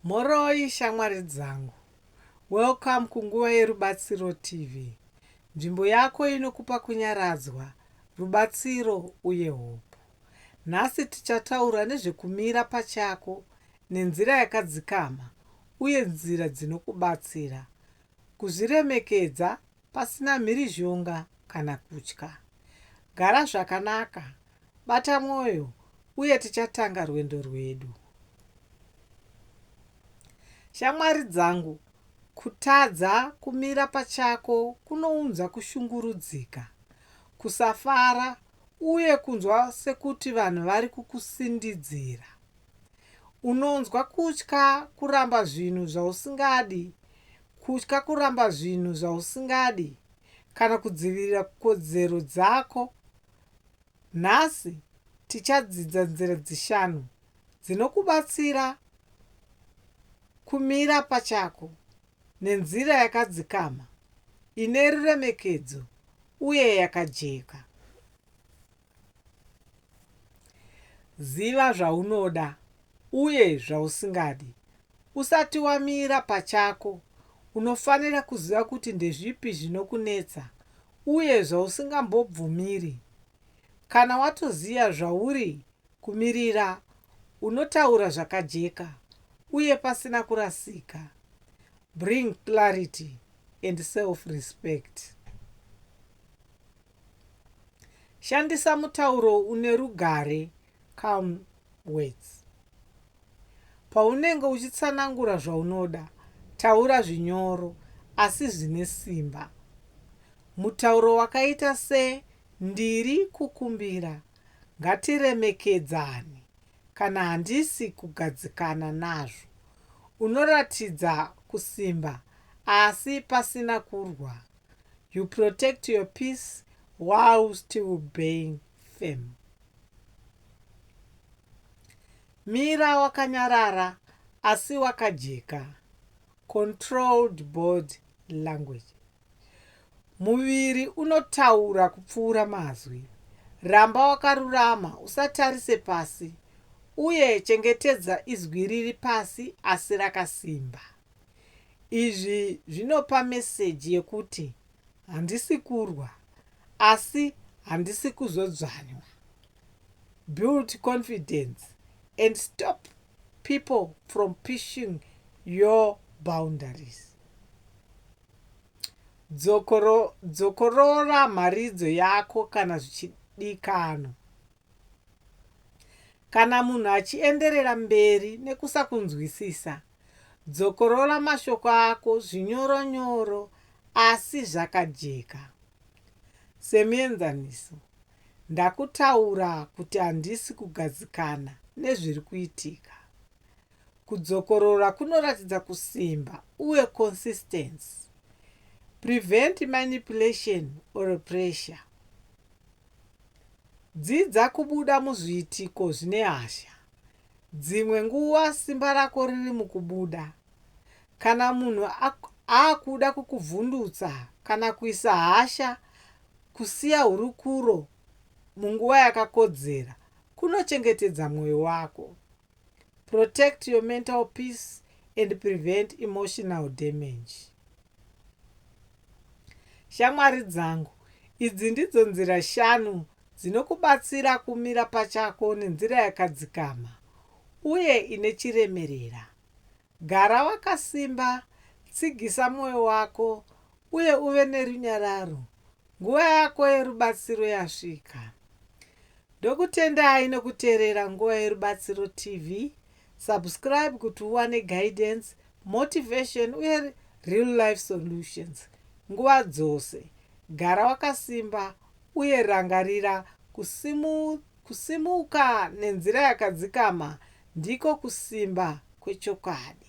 Mhoroi shamwari dzangu. Welcome kunguva yeRubatsiro TV, nzvimbo yako inokupa kunyaradzwa, rubatsiro uye hope. Nhasi tichataura nezvekumira pachako nenzira yakadzikama uye nzira dzinokubatsira kuzviremekedza pasina mhirizhonga kana kutya. Gara zvakanaka, bata mwoyo, uye tichatanga rwendo rwedu. Shamwari dzangu, kutadza kumira pachako kunounza kushungurudzika, kusafara, uye kunzwa sekuti vanhu vari kukusindidzira. Unonzwa kutya kuramba zvinhu zvausingadi, Kutya kuramba zvinhu zvausingadi kana kudzivirira kodzero dzako. Nhasi tichadzidza nzira dzishanu dzinokubatsira kumira pachako nenzira yakadzikama, ine ruremekedzo uye yakajeka. Ziva zvaunoda uye zvausingadi. Usati wamira pachako, unofanira kuziva kuti ndezvipi zvinokunetsa uye zvausingambobvumiri. Kana watoziva zvauri kumirira, unotaura zvakajeka uye pasina kurasika. Bring clarity and self-respect. Shandisa mutauro une rugare, calm words. Paunenge uchitsanangura zvaunoda, taura zvinyoro asi zvine simba. Mutauro wakaita se ndiri kukumbira, ngatiremekedzane kana handisi kugadzikana nazvo unoratidza kusimba asi pasina kurwa. you protect your peace while still being firm mira wakanyarara asi wakajeka controlled body language muviri unotaura kupfuura mazwi ramba wakarurama usatarise pasi uye chengetedza izwi riri pasi asi rakasimba Izvi zvinopa meseji yekuti handisi kurwa asi handisi kuzodzvanywa. Build confidence and stop people from pushing your boundaries. Dzokoro, dzokorora mharidzo yako kana zvichidikano. Kana munhu achienderera mberi nekusakunzwisisa, Dzokorora mashoko ako zvinyoro nyoro asi zvakajeka. Semuenzaniso, ndakutaura kuti handisi kugadzikana nezviri kuitika. Kudzokorora kunoratidza kusimba uye consistency. Prevent manipulation or pressure. Dzidza kubuda muzviitiko zvine hasha. Dzimwe nguva simba rako riri mukubuda. Kana munhu akuda kukuvhundutsa kana kuisa hasha, kusiya hurukuro munguva yakakodzera kunochengetedza mwoyo wako. Protect your mental peace and prevent emotional damage. Shamwari dzangu, idzi ndidzo nzira shanu Dzinokubatsira kumira pachako nenzira yakadzikama uye ine chiremerera. Gara wakasimba, tsigisa mwoyo wako, uye uve nerunyararo. Nguva yako yerubatsiro yasvika. Ndokutendai nokuteerera Nguva Yerubatsiro TV. Subscribe kuti uwane guidance, motivation, uye real life solutions nguva dzose. Gara wakasimba. Uye rangarira, kusimu, kusimuka nenzira yakadzikama ndiko kusimba kwechokwadi.